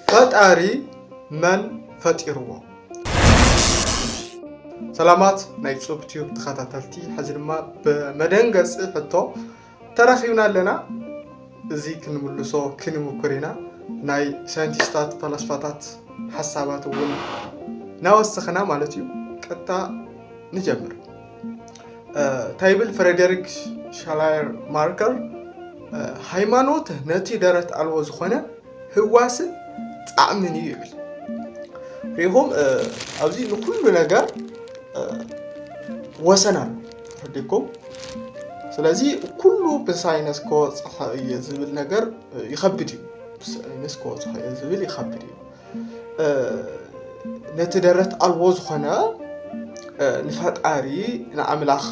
ፈጣሪ መን ፈጢርዎ? ሰላማት ናይ ጹብ ቲዩብ ተኸታተልቲ፣ ሕዚ ድማ ብመደንገጺ ሕቶ ተራኺብና ኣለና። እዚ ክንምልሶ ክንምኩር ኢና። ናይ ሳይንቲስታት ፈላስፋታት ሓሳባት እውን ናወሰኽና ማለት እዩ። ቀጥታ ንጀምር። እንታይ ይብል ፍሬደሪክ ሻላየር ማርከር ሃይማኖት ነቲ ደረት ኣልቦ ዝኾነ ህዋስን ጣዕምን እዩ ይብል ሪኹም ኣብዚ ንኩሉ ነገር ወሰን ኣሎ ረዲኩም ስለዚ ኩሉ ብሳይነስ ከወፅሖ እየ ዝብል ነገር ይኸብድ እዩ ብሳይነስ ከወፅሖ እየ ዝብል ይኸብድ እዩ ነቲ ደረት ኣልቦ ዝኾነ ንፈጣሪ ንኣምላኽ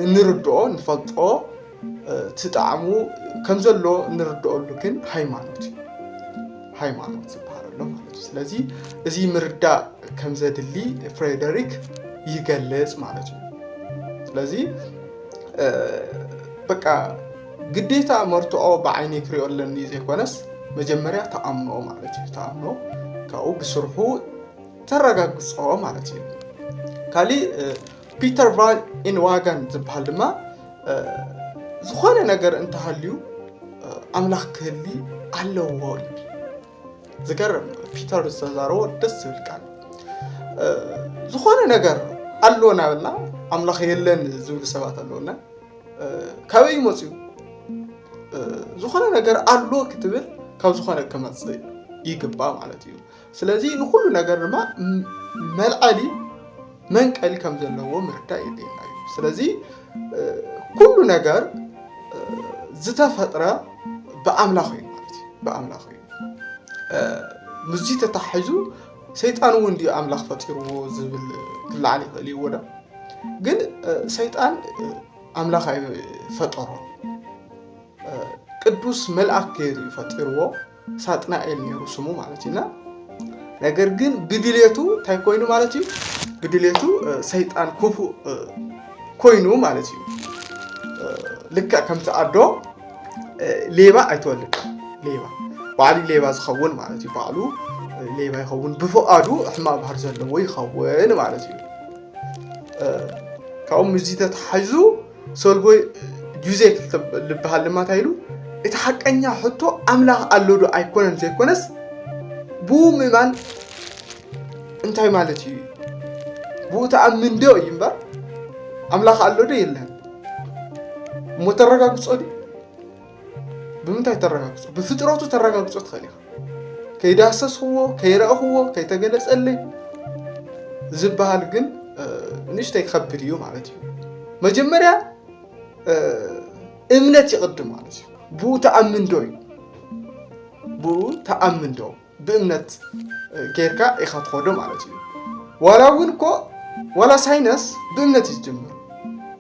እንርድኦ ንፈልጦ እቲ ጣዕሙ ከም ዘሎ እንርድኦሉ ግን ሃይማኖት እዩ ሃይማኖት ዝበሃል ኣሎ ማለት እዩ ስለዚ እዚ ምርዳእ ከም ዘድሊ ፍሬደሪክ ይገልጽ ማለት እዩ ስለዚ በቃ ግዴታ መርትዖ ብዓይነይ ክሪኦ ኣለኒ ዘይኮነስ መጀመርያ ተኣምኖ ማለት እዩ ተኣምኖ ካብኡ ብስርሑ ተረጋግፆ ማለት እዩ ካሊእ ፒተር ቫን ኢንዋጋን ዝበሃል ድማ ዝኾነ ነገር እንተሃልዩ ኣምላኽ ክህሊ ኣለዎ እዩ ዝገርም ፒተር ዝተዛረቦ ደስ ዝብል ቃል ዝኾነ ነገር ኣሎ ናበልና ኣምላኽ የለን ዝብሉ ሰባት ኣለውና ካበይ መፅኡ ዝኾነ ነገር ኣሎ ክትብል ካብ ዝኾነ ክመፅእ ይግባ ማለት እዩ ስለዚ ንኩሉ ነገር ድማ መልዓሊ መንቀል ከም ዘለዎ ምርዳእ የድልየና እዩ ስለዚ ኩሉ ነገር ዝተፈጥረ ብኣምላኽ እዩ ማለት እዩ ብኣምላኽ እዩ ምስዚ ተታሒዙ ሰይጣን እውን ድዩ ኣምላኽ ፈጢርዎ ዝብል ክለዓል ይኽእል እዩ ወዳ ግን ሰይጣን ኣምላኽ ኣይፈጠሮ ቅዱስ መልኣክ ገይሩ እዩ ፈጢርዎ ሳጥናኤል ነይሩ ስሙ ማለት እዩና ነገር ግን ብድሌቱ እንታይ ኮይኑ ማለት እዩ ብድሌቱ ሰይጣን ክፉእ ኮይኑ ማለት እዩ ልክዕ ከምቲ ኣዶ ሌባ ኣይትወልድ ሌባ ባዕሉ ሌባ ዝኸውን ማለት እዩ ባዕሉ ሌባ ይኸውን ብፍቃዱ ሕማቅ ባህር ዘለዎ ይኸውን ማለት እዩ ካብኡ ምዚ ተተሓዙ ሰልቦይ ጁዜ ልበሃል ድማ እንታይ ኢሉ እቲ ሓቀኛ ሕቶ ኣምላኽ ኣሎ ዶ ኣይኮነን ዘይኮነስ ብኡ ምእማን እንታይ ማለት እዩ? ብኡ ተኣምን ዶ እዩ እምበር ኣምላኽ ኣሎ ዶ የለን እሞ ተረጋግጾ ድዩ? ብምንታይ ተረጋግጾ? ብፍጥረቱ ተረጋግጾ ትኽእል ኢኻ። ከይዳሰስኽዎ፣ ከይረእኽዎ፣ ከይተገለጸለይ ዝበሃል ግን ንእሽተይ ክኸብድ እዩ ማለት እዩ። መጀመርያ እምነት ይቕድም ማለት እዩ። ብኡ ተኣምን ዶ እዩ? ብኡ ተኣምን ዶ? ብእምነት ጌርካ ኢኻ ትኸዶ ማለት እዩ ዋላ እውን እኮ ዋላ ሳይነስ ብእምነት እዩ ዝጅምር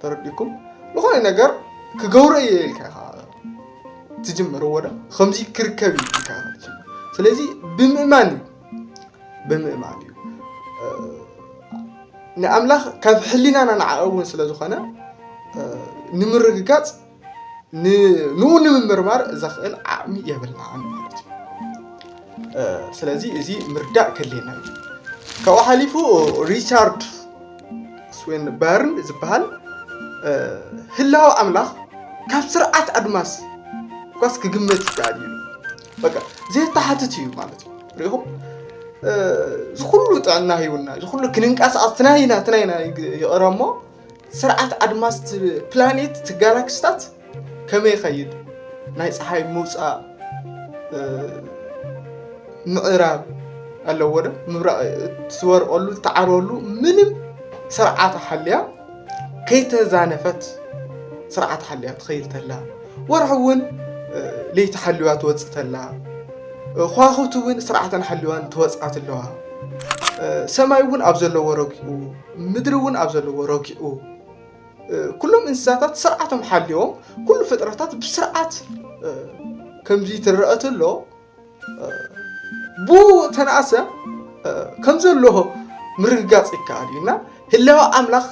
ተረዲኩም ዝኾነ ነገር ክገብሮ እየ ኢልካ ኢኻ ትጅምር ወደ ከምዚ ክርከብ እዩ ኢልካ ኢኻ ትጅምር ስለዚ ብምእማን እዩ ብምእማን እዩ ንኣምላኽ ካብ ሕሊናና ንዓቐ እውን ስለ ዝኾነ ንምርግጋፅ ንኡ ንምምርማር ዘኽእል ዓቕሚ የብልናን ማለት እዩ ስለዚ እዚ ምርዳእ ከድልየና እዩ ካብኡ ሓሊፉ ሪቻርድ ስዌን በርን ዝበሃል ህላዊ ኣምላኽ ካብ ስርዓት ኣድማስ እኳስ ክግመት ይከኣል እዩ በቃ ዘየተሓትት እዩ ማለት እዩ ሪኹም ዝኩሉ ጥዕና ሂውና ዝኩሉ ክንንቀሳቀስ ትናይና ትናይና ይቕረ እሞ ስርዓት ኣድማስ እቲ ፕላኔት እቲ ጋላክስታት ከመይ ይኸይድ ናይ ፀሓይ ምውፃእ ምዕራብ ኣለዎ ዶ ምብራቕ እትወርቐሉ እትዓርበሉ ምንም ስርዓት ሓልያ ከይተዛነፈት ስርዓት ሓልያ ትኸይድ ተላ ወርሒ እውን ለይቲ ሓልዋ ትወፅእ ተላ ከዋኽብቲ እውን ስርዓተን ሓልዋን ተወፅኣት ኣለዋ ሰማይ እውን ኣብ ዘለዎ ረጊኡ ምድሪ እውን ኣብ ዘለዎ ረጊኡ ኩሎም እንስሳታት ስርዓቶም ሓልዮም ኩሉ ፍጥረታት ብስርዓት ከምዚ ትረአ ተሎ ብኡ ተነኣሰ ከም ዘለዎ ምርግጋፅ ይከኣል እዩ እና ህላወ ኣምላኽ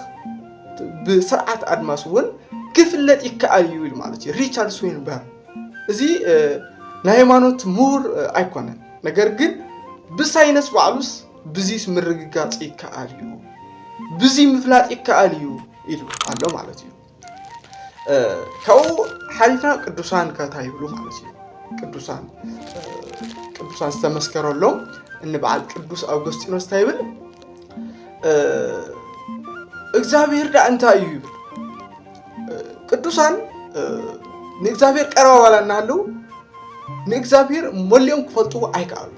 ብስርዓት ኣድማስ እውን ክፍለጥ ይከኣል እዩ ኢሉ ማለት እዩ ሪቻርድ ስዊንበር እዚ ናይ ሃይማኖት ምሁር ኣይኮነን ነገር ግን ብሳይነስ ባዕሉስ ብዚስ ምርግጋጽ ይከኣል እዩ፣ ብዚ ምፍላጥ ይከኣል እዩ ኢሉ ኣሎ ማለት እዩ። ካብኡ ሓሊፍና ቅዱሳን ከታ ይብሉ ማለት እዩ። ቅዱሳን ቅዱሳን ዝተመስከረሎም እንበዓል ቅዱስ ኣውገስጢኖስ እንታይ ይብል? እግዚኣብሔር ዳ እንታይ እዩ ይብል ቅዱሳን ንእግዚኣብሔር ቀረባ ዋላ እናሃለዉ ንእግዚኣብሔር መሊኦም ክፈልጡ ኣይከኣሉ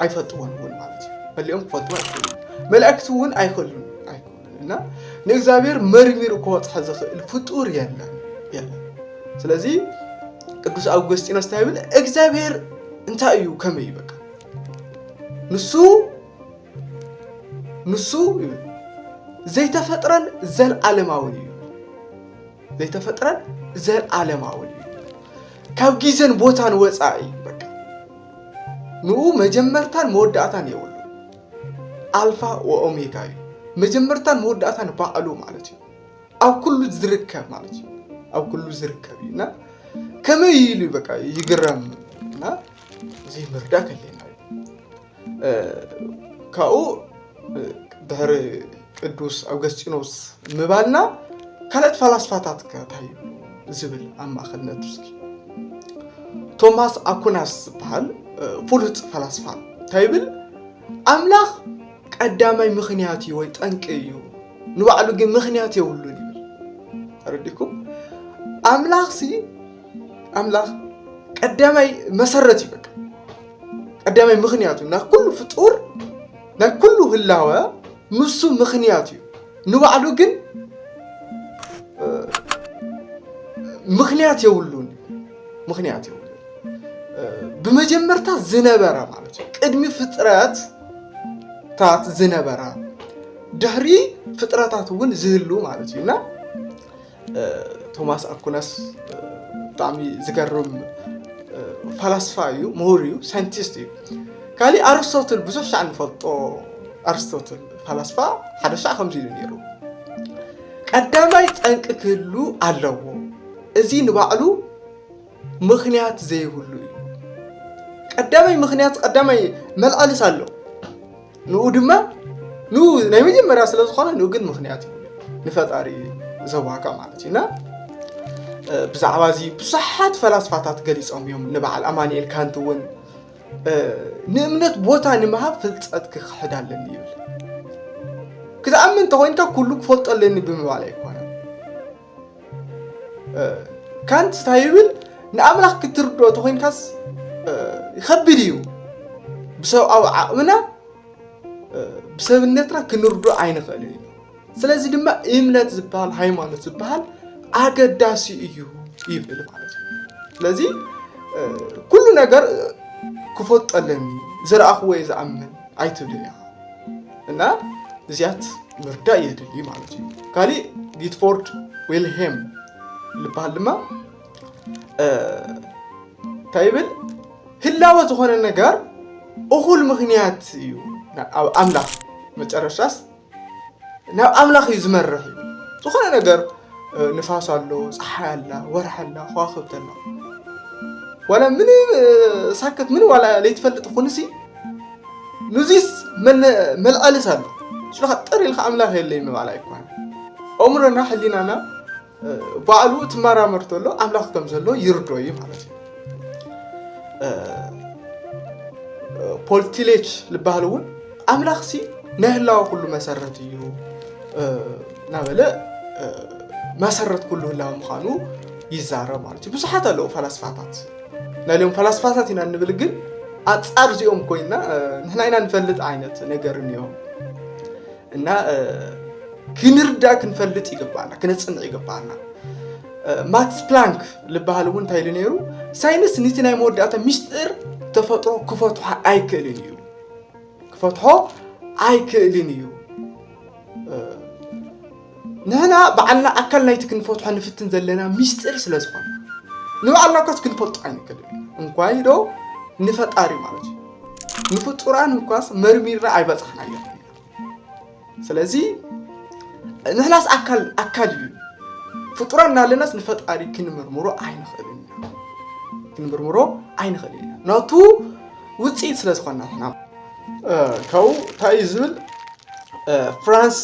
ኣይፈልጥዎን እውን ማለት እዩ መሊኦም ክፈልጡ ኣይክእሉ መላእክቲ እውን ኣይክእሉን ኣይክእሉን እና ንእግዚኣብሔር መርሚሩ ክወፅሐ ዝኽእል ፍጡር የለን የለን ስለዚ ቅዱስ ኣውገስጢኖስ እንታይ ይብል እግዚኣብሔር እንታይ እዩ ከመይ በቃ ንሱ ንሱ ይብል ዘይተፈጥረን ዘለዓለማውን እዩ ዘይተፈጥረን ዘለዓለማውን እዩ ካብ ግዜን ቦታን ወፃኢ እዩ በቃ ንኡ መጀመርታን መወዳእታን የብሉ ኣልፋ ወኦሜጋ እዩ መጀመርታን መወዳእታን ባዕሉ ማለት እዩ ኣብ ኩሉ ዝርከብ ማለት እዩ ኣብ ኩሉ ዝርከብ እዩ እና ከመይ ኢሉ በቃ ይግረም እና እዚ ምርዳእ ከለና እዩ ካብኡ ድሕሪ ቅዱስ ኣውገስጢኖስ ምባልና ካልኦት ፈላስፋታት ከታዩ ዝብል ኣብ ማእኸል ነትስኪ ቶማስ ኣኩናስ ዝበሃል ፍሉጥ ፈላስፋ እንታይ ይብል ኣምላኽ ቀዳማይ ምክንያት እዩ ወይ ጠንቂ እዩ ንባዕሉ ግን ምክንያት የብሉን ይብል ተረዲኩም ኣምላኽ ሲ ኣምላኽ ቀዳማይ መሰረት እዩ በቃ ቀዳማይ ምኽንያት እዩ ናይ ኩሉ ፍጡር ናይ ኩሉ ህላወ ንሱ ምኽንያት እዩ ንባዕሉ ግን ምኽንያት የብሉን ምኽንያት የብሉን ብመጀመርታ ዝነበረ ማለት እዩ ቅድሚ ፍጥረት ታት ዝነበረ ድሕሪ ፍጥረታት እውን ዝህሉ ማለት እዩ እና ቶማስ ኣኩናስ ብጣዕሚ ዝገርም ፈላስፋ እዩ፣ ምሁር እዩ፣ ሳይንቲስት እዩ። ካሊእ ኣርስቶትል ብዙሕ ሻዕ ንፈልጦ ኣርስቶትል ፈላስፋ ሓደ ሻዕ ከምዚ ኢሉ ነይሩ፣ ቀዳማይ ጠንቂ ክህሉ ኣለዎ፣ እዚ ንባዕሉ ምክንያት ዘይብሉ እዩ። ቀዳማይ ምክንያት ቀዳማይ መልዓልስ ኣሎ፣ ንኡ ድማ ንኡ ናይ መጀመርያ ስለ ዝኾነ ንኡ ግን ምክንያት እዩ ንፈጣሪ ዘዋጋ ማለት እዩ እና ብዛዕባ እዚ ብዙሓት ፈላስፋታት ገሊፆም እዮም ንበዓል ኣማንኤል ካንት እውን ንእምነት ቦታ ንምሃብ ፍልጠት ክክሕድ ኣለኒ ይብል ክትኣምን እንተኮይንካ ኩሉ ክፈልጦ ኣለኒ ብምባል ኣይኮነን ካንት እንታይ ይብል ንኣምላኽ ክትርድኦ ተኾይንካስ ይኸብድ እዩ ብሰብኣዊ ዓቕምና ብሰብነትና ክንርዶ ኣይንኽእል እዩ ስለዚ ድማ እምነት ዝበሃል ሃይማኖት ዝበሃል ኣገዳሲ እዩ ይብል ማለት እዩ ስለዚ ኩሉ ነገር ክፈልጠለኒ ዝረኣኽዎ ዝኣምን ኣይትብል እያ እና እዚኣት ምርዳእ የድሊ ማለት እዩ ካሊእ ጊትፎርድ ዌልሄም ዝበሃል ድማ እንታይ ይብል ህላወ ዝኾነ ነገር እኹል ምክንያት እዩ ኣብ ኣምላኽ መጨረሻስ ናብ ኣምላኽ እዩ ዝመርሕ እዩ ዝኾነ ነገር ንፋስ ኣሎ፣ ፀሓይ ኣላ፣ ወርሒ ኣላ፣ ከዋኽብቲ ኣላ ዋላ ምንም ሳከት ምንም ዋላ ለይትፈልጥ ኩንሲ ንዚስ መልኣልስ ኣሎ ስለካ ጥር ኢልካ ኣምላኽ የለይ ምባል ኣይኮነ ኣእምሮና ሕሊናና ባዕሉ ትመራመር ተሎ ኣምላኽ ከም ዘሎ ይርዶ እዩ ማለት እዩ ፖልቲሌች ዝበሃል እውን ኣምላኽሲ ናይ ህላወ ኩሉ መሰረት እዩ እናበለ መሰረት ኩሉ ህላወ ምዃኑ ይዛረብ ማለት እዩ። ብዙሓት ኣለዉ ፈላስፋታት ናይ ሎም ፈላስፋታት ኢና እንብል ግን ኣንጻር እዚኦም ኮይና ንሕና ኢና ንፈልጥ ዓይነት ነገር እኒኦ እና ክንርዳ ክንፈልጥ ይግባና ክነፅንዕ ይግባና ማክስ ፕላንክ ዝበሃል እውን እንታይ ኢሉ ነይሩ ሳይንስ ንቲ ናይ መወዳእታ ሚስጢር ተፈጥሮ ክፈትሖ ኣይክእልን እዩ ክፈትሖ ኣይክእልን እዩ ንሕና ባዕልና ኣካል ናይቲ ክንፈትሖ ንፍትን ዘለና ሚስጢር ስለ ዝኾነ ንባዕልና እኳስ ክንፈልጦ ኣይንክእልን እንኳይ ዶ ንፈጣሪ ማለት እዩ ንፍጡራን እኳስ መርሚርና ኣይበፃሕናዮ ስለዚ ንሕናስ ኣካል ኣካል እዩ ፍጡራ እናለናስ ንፈጣሪ ክንምርምሮ ኣይንኽእልን ኢና ክንምርምሮ ኣይንኽእልን ኢና ናቱ ውፅኢት ስለ ዝኾና ንሕና ካብኡ እንታይ እዩ ዝብል ፍራንስ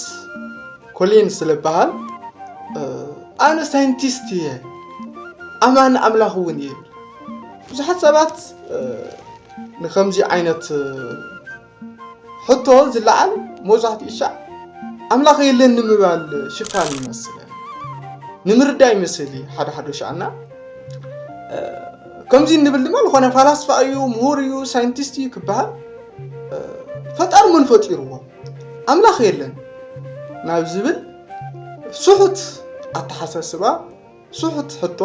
ኮሊን ስለ ዝበሃል ኣነ ሳይንቲስት እየ ኣማኒ ኣምላኽ እውን እየ ብዙሓት ሰባት ንከምዚ ዓይነት ሕቶ ዝለዓል መብዛሕትኡ ሻዕ ኣምላኽ የለን ንምባል ሽፋን ይመስለን ንምርዳእ ይመስል እዩ ሓደ ሓደ ሻዕና ከምዚ እንብል ድማ ዝኾነ ፋላስፋ እዩ ምሁር እዩ ሳይንቲስት እዩ ክበሃል ፈጣሪ መን ፈጢርዎ ኣምላኽ የለን ናብ ዝብል ስሑት ኣተሓሳስባ ስሑት ሕቶ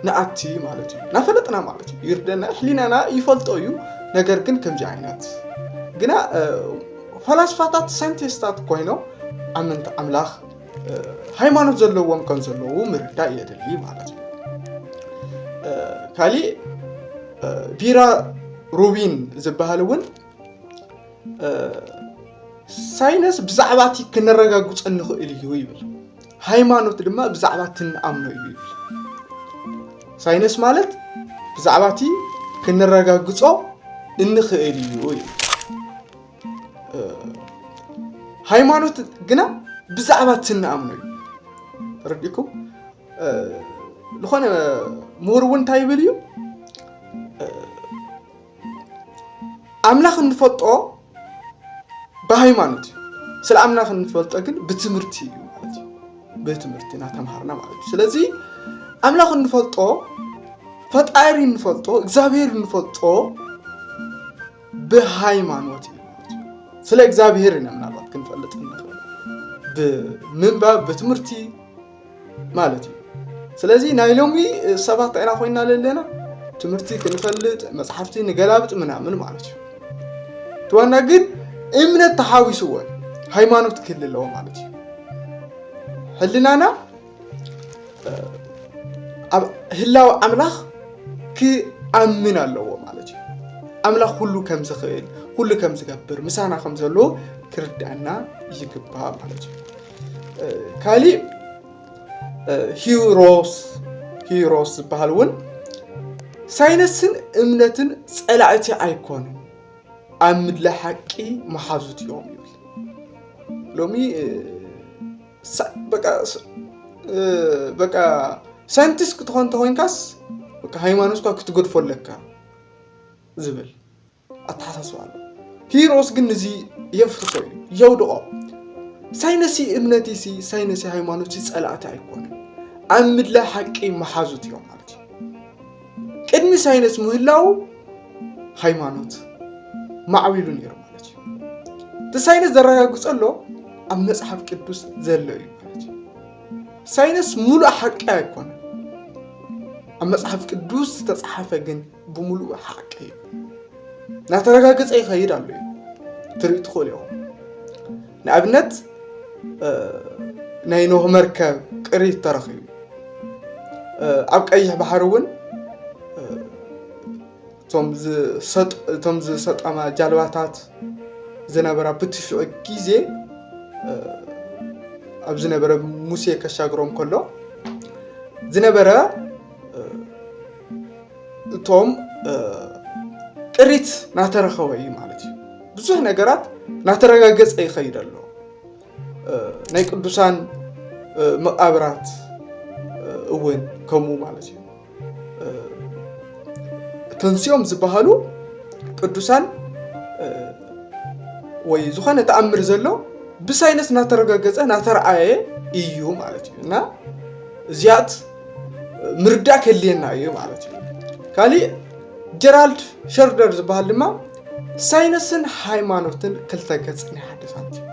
ንኣቲ ማለት እዩ ናፈለጥና ማለት እዩ ይርደና ሕሊናና ይፈልጦ እዩ ነገር ግን ከምዚ ዓይነት ግና ፈላስፋታት ሳይንቲስታት ኮይኖም ኣመንቲ ኣምላኽ ሃይማኖት ዘለዎም ከም ዘለዉ ምርዳእ የድሊ ማለት እዩ ካሊእ ቢራ ሩቢን ዝበሃል እውን ሳይንስ ብዛዕባ እቲ ክነረጋግፆ ንኽእል እዩ ይብል ሃይማኖት ድማ ብዛዕባ እቲ እንኣምኖ እዩ ይብል ሳይንስ ማለት ብዛዕባ እቲ ክንረጋግጾ እንኽእል እዩ እዩ ሃይማኖት ግና ብዛዕባ እቲ እንኣምኖ እዩ ተረዲእኩም ዝኾነ ምሁር እውን እንታይ ይብል እዩ ኣምላኽ እንፈልጦ ብሃይማኖት እዩ። ስለ ኣምላኽ እንፈልጦ ግን ብትምህርቲ እዩ ማለት እዩ። ብትምህርቲ እናተምሃርና ማለት እዩ። ስለዚ ኣምላኽ እንፈልጦ ፈጣሪ እንፈልጦ እግዚኣብሔር እንፈልጦ ብሃይማኖት እዩ ማለት እዩ። ስለ እግዚኣብሔር ኢና ምናልባት ክንፈልጥ እንኽእል ብምንባብ ብትምህርቲ ማለት እዩ ስለዚ ናይ ሎሚ ሰባት ታይ ኢና ኮይና ዘለና ትምህርቲ ክንፈልጥ መፅሓፍቲ ንገላብጥ ምናምን ማለት እዩ እቲ ዋና ግን እምነት ተሓዊስዎ ሃይማኖት ክህል ኣለዎ ማለት እዩ ሕልናና ኣብ ህላዊ ኣምላኽ ክኣምን ኣለዎ ማለት እዩ ኣምላኽ ኩሉ ከም ዝኽእል ኩሉ ከም ዝገብር ምሳና ከም ዘሎ ክርድኣና ይግባእ ማለት እዩ ካሊእ ሂሮስ ሂሮስ ዝበሃል እውን ሳይነስን እምነትን ፀላእቲ ኣይኮኑን ኣብ ምድለ ሓቂ መሓዙት እዮም ይብል ሎሚ በቃ ሳይንቲስት ክትኾን ተኮይንካስ ሃይማኖትካ ክትገድፎ ኣለካ ዝብል ኣተሓሳስባ ኣሎ። ሂሮስ ግን ንዚ የፍርሶ እዩ፣ የውድቖ። ሳይነሲ እምነቲሲ ሳይነሲ ሃይማኖትሲ ጸላእቲ ኣይኮኑን፣ ኣብ ምድላይ ሓቂ መሓዙት እዮም ማለት እዩ። ቅድሚ ሳይነስ ምህላው ሃይማኖት ማዕቢሉ ነይሩ ማለት እዩ። እቲ ሳይነስ ዘረጋግጾ ኣሎ ኣብ መጽሓፍ ቅዱስ ዘሎ እዩ ማለት እዩ። ሳይነስ ሙሉእ ሓቂ ኣይኮነን፣ ኣብ መጽሓፍ ቅዱስ ዝተጻሓፈ ግን ብምሉኡ ሓቂ እዩ እናተረጋገፀ ይኸይድ ኣሎ እዩ ትርኢ ትኽእሉ ኢኹም ንኣብነት ናይ ኖህ መርከብ ቅሪት ተረኺቡ ኣብ ቀይሕ ባሕሪ እውን እቶም ዝሰጠማ ጃልባታት ዝነበራ ብትሽዑ ግዜ ኣብ ዝነበረ ሙሴ ከሻግሮም ከሎ ዝነበረ እቶም ጥሪት ናተረኸበ እዩ ማለት እዩ ብዙሕ ነገራት ናተረጋገፀ ይኸይድ ኣሎ ናይ ቅዱሳን መቃብራት እውን ከምኡ ማለት እዩ ተንስኦም ዝበሃሉ ቅዱሳን ወይ ዝኾነ ተኣምር ዘሎ ብሳይንስ ናተረጋገፀ ናተረኣየ እዩ ማለት እዩ እና እዚኣት ምርዳእ ከድልየና እዩ ማለት እዩ ካሊእ ጀራልድ ሸርደር ዝበሃል ድማ ሳይንስን ሃይማኖትን ክልተ ገፅ ናይ ሓደ ሳንቲም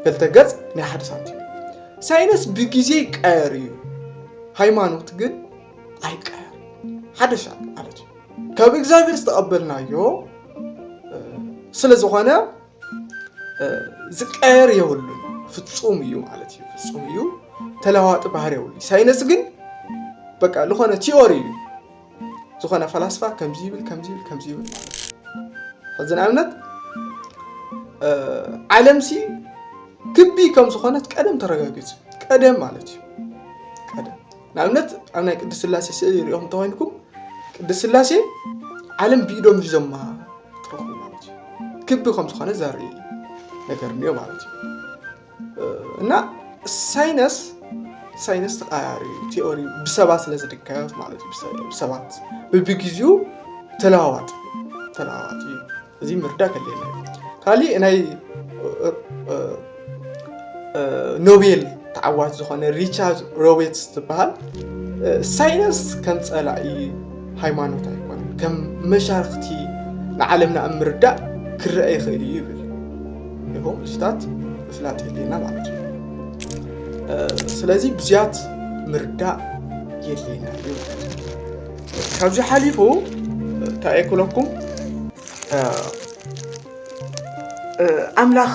ክልተ ገፅ ናይ ሓደ ሳንቲም ሳይንስ ብግዜ ይቀየር እዩ ሃይማኖት ግን ኣይቀየር ሓደሻ ማለት እዩ ካብ እግዚኣብሔር ዝተቐበልናዮ ስለ ዝኾነ ዝቀየር የብሉን ፍፁም እዩ ማለት እዩ ፍፁም እዩ ተለዋዋጢ ባህሪ የብሉ ሳይንስ ግን በቃ ዝኾነ ቲዮሪ እዩ ዝኾነ ፈላስፋ ከምዚ ይብል ከምዚ ይብል ከምዚ ይብል ማለት እዩ ሕዚ ንኣብነት ዓለምሲ ክቢ ከም ዝኾነት ቀደም ተረጋጊፁ ቀደም ማለት እዩ ንኣብነት ኣብ ናይ ቅድስት ስላሴ ስእሊ ሪኦም እንተኮይንኩም ቅድስት ስላሴ ዓለም ብኢዶም ሒዞማ ትረኽቡ ማለት እዩ ክቢ ከም ዝኾነ ዘርኢ ነገር እኒኦ ማለት እዩ እና ሳይነስ ሳይነስ ተቃያሪ ቲኦሪ ብሰባት ስለ ዝድገፍ ማለት እዩ ብሰባት ብብግዚኡ ተለዋዋጥ ተለዋዋጥ እዩ እዚ ምርዳእ ከድልየና እዩ ካሊእ ናይ ኖቤል ተዓዋት ዝኾነ ሪቻርድ ሮቤትስ ዝበሃል ሳይንስ ከም ፀላኢ ሃይማኖት ኣይኮነን ከም መሻርክቲ ንዓለምና ኣብ ምርዳእ ክረአ ይኽእል እዩ ይብል ይኹም ምስታት ምፍላጥ የድልየና ማለት እዩ ስለዚ ብዝያት ምርዳእ የድልየና እዩ ካብዚ ሓሊፉ እንታይ እየ ክብለኩም ኣምላኽ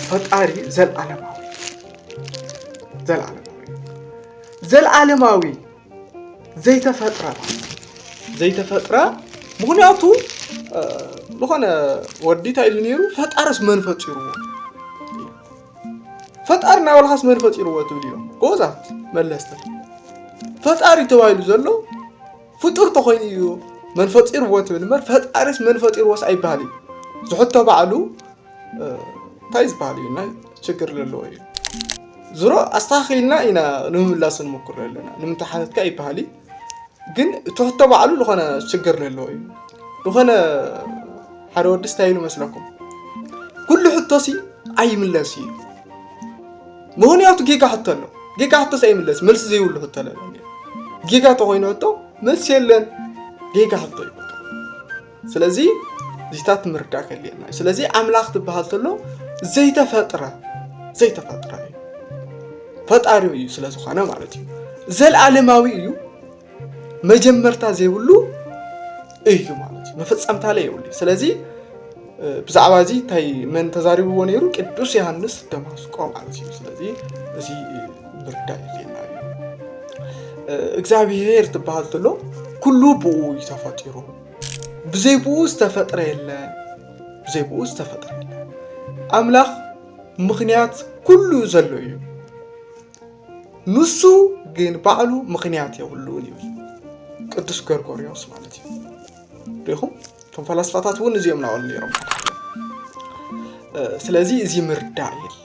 ፈጣሪ ዘለዓለማዊ ዘለዓለማዊ ዘለዓለማዊ ዘይተፈጥረ ዘይተፈጥረ ምክንያቱ ዝኾነ ወዲ እንታይ ኢሉ ነይሩ ፈጣሪስ መን ፈጢርዎ ፈጣሪ ናይ ባዕልኻስ መን ፈጢርዎ ትብል እዮም ጎበዛት መለስቲ ፈጣሪ ተባሂሉ ዘሎ ፍጡር ተኮይኑ እዩ መን ፈጢርዎ ትብል እምበር ፈጣሪስ መን ፈጢርዎስ ኣይበሃል እዩ ዝሕቶ ባዕሉ እንታይ ዝበሃል እዩ ናይ ችግር ዘለዎ እዩ ዝሮ ኣስተኻኺልና ኢና ንምምላስ ንሞክር ኣለና ንምንታይ ሓተትካ ይበሃል እዩ ግን እቲ ሕቶ ባዕሉ ዝኾነ ሽግር ዘለዎ እዩ ዝኾነ ሓደ ወዲ ስታይ ኢሉ መስለኩም ኩሉ ሕቶሲ ኣይምለስ እዩ ምክንያቱ ጌጋ ሕቶ ኣሎ ጌጋ ሕቶስ ኣይምለስ መልሲ ዘይብሉ ሕቶ ኣለለ ጌጋ ተኮይኑ ሕቶ መልሲ የለን ጌጋ ሕቶ እዩ ስለዚ እዚታት ምርዳእ ከድልየና እዩ ስለዚ ኣምላኽ ትበሃል ተሎ ዘይተፈጥረ ዘይተፈጥረ እዩ ፈጣሪው እዩ ስለ ዝኾነ ማለት እዩ ዘለኣለማዊ እዩ መጀመርታ ዘይብሉ እዩ ማለት እዩ መፈፀምታ ላይ የብሉ ስለዚ ብዛዕባ እዚ እንታይ መን ተዛሪብዎ ነይሩ ቅዱስ ዮሃንስ ደማስቆ ማለት እዩ ስለዚ እዚ ምርዳእ የድልየና እዩ እግዚኣብሄር ትበሃል ተሎ ኩሉ ብኡ እዩ ተፈጢሩ ብዘይ ብኡ ዝተፈጥረ የለን ብዘይ ብኡ ዝተፈጥረ የለን ኣምላኽ ምኽንያት ኩሉ ዘሎ እዩ ንሱ ግን ባዕሉ ምኽንያት የብሉን ይብል ቅዱስ ገርጎርዮስ ማለት እዩ ሪኹም እቶም ፈላስፋታት እውን እዚኦም ናበሉ ነይሮም ስለዚ እዚ ምርዳእ የድሊ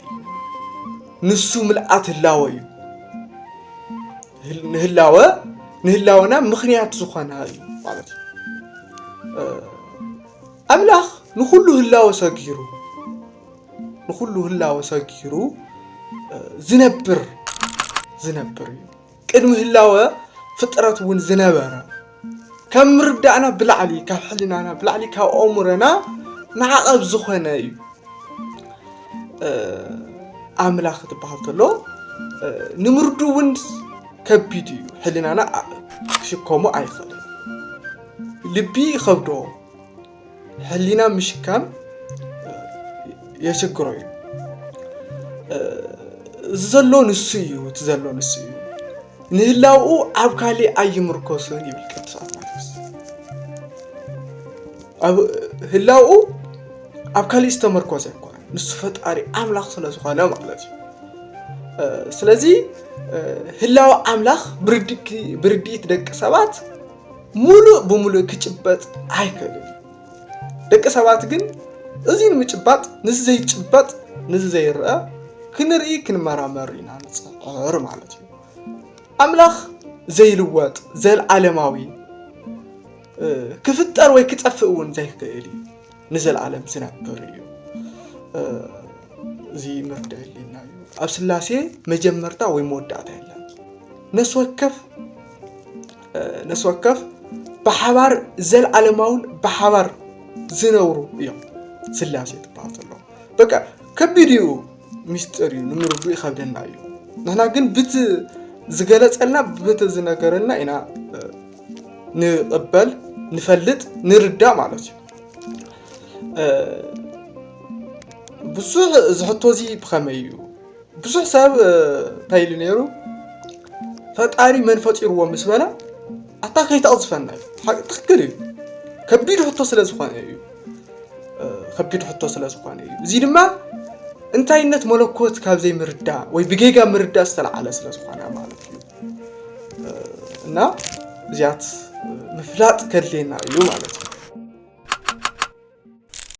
ንሱ ምልኣት ህላወ እዩ ንህላወ ንህላወና ምክንያት ዝኾና እዩ ማለት እዩ ኣምላኽ ንኩሉ ህላወ ሰጊሩ ንኩሉ ህላወ ሰጊሩ ዝነብር ዝነብር እዩ ቅድሚ ህላወ ፍጥረት እውን ዝነበረ ካብ ምርዳእና ብላዕሊ ካብ ሕልናና ብላዕሊ ካብ ኣእምሮና ማዕቐብ ዝኾነ እዩ ኣምላኽ ትበሃል ተሎ ንምርዱ እውን ከቢድ እዩ ሕልናና ክሽከሞ ኣይኽእልን ልቢ ይኸብዶ ሕሊና ምሽካም የሽግሮ እዩ እዚ ዘሎ ንሱ እዩ እቲ ዘሎ ንሱ እዩ ንህላውኡ ኣብ ካሊእ ኣይምርኮስን ይብል ቅዱስ ኣትናቴዎስ ኣብ ህላውኡ ኣብ ካሊእ ዝተመርኮሰ ይኮነ ንሱ ፈጣሪ ኣምላኽ ስለ ዝኾነ ማለት እዩ ስለዚ ህላው ኣምላኽ ብርድኢት ደቂ ሰባት ሙሉእ ብሙሉእ ክጭበጥ ኣይክእልን እዩ። ደቂ ሰባት ግን እዚ ንምጭባጥ ንዚ ዘይጭበጥ ንዚ ዘይረአ ክንርኢ ክንመራመር ኢና ንፅዕር ማለት እዩ። ኣምላኽ ዘይልወጥ ዘልዓለማዊ ክፍጠር ወይ ክጠፍእ እውን ዘይክእል እዩ ንዘለዓለም ዝነብር እዩ እዚ ምርዳ የለና እዩ ኣብ ስላሴ መጀመርታ ወይ መወዳእታ የለን ነፍሲ ወከፍ ነፍሲ ወከፍ ብሓባር ዘለዓለማውን ብሓባር ዝነብሩ እዮም ስላሴ ትበሃል ዘሎ በቃ ከቢድ እዩ ሚስጢር እዩ ንምርዱ ይኸብደና እዩ ንሕና ግን ብቲ ዝገለፀልና ብቲ ዝነገረልና ኢና ንቕበል ንፈልጥ ንርዳእ ማለት እዩ ብዙሕ ዝሕቶ እዚ ብኸመይ እዩ ብዙሕ ሰብ እንታይ ኢሉ ነይሩ ፈጣሪ መን ፈጢርዎ ምስ በለ ኣታ ከይተቕዝፈና እዩ ሓቂ- ትኽክል እዩ ከቢድ ሕቶ ስለ ዝኾነ እዩ እ፣ ከቢድ ሕቶ ስለ ዝኾነ እዩ እዚ ድማ እንታይነት መለኮት ካብ ዘይምርዳእ ወይ ብጌጋ ምርዳእ ዝተለዓለ ስለ ዝኾነ ማለት እዩ እና እዚያት ምፍላጥ ከድልየና እዩ ማለት እዩ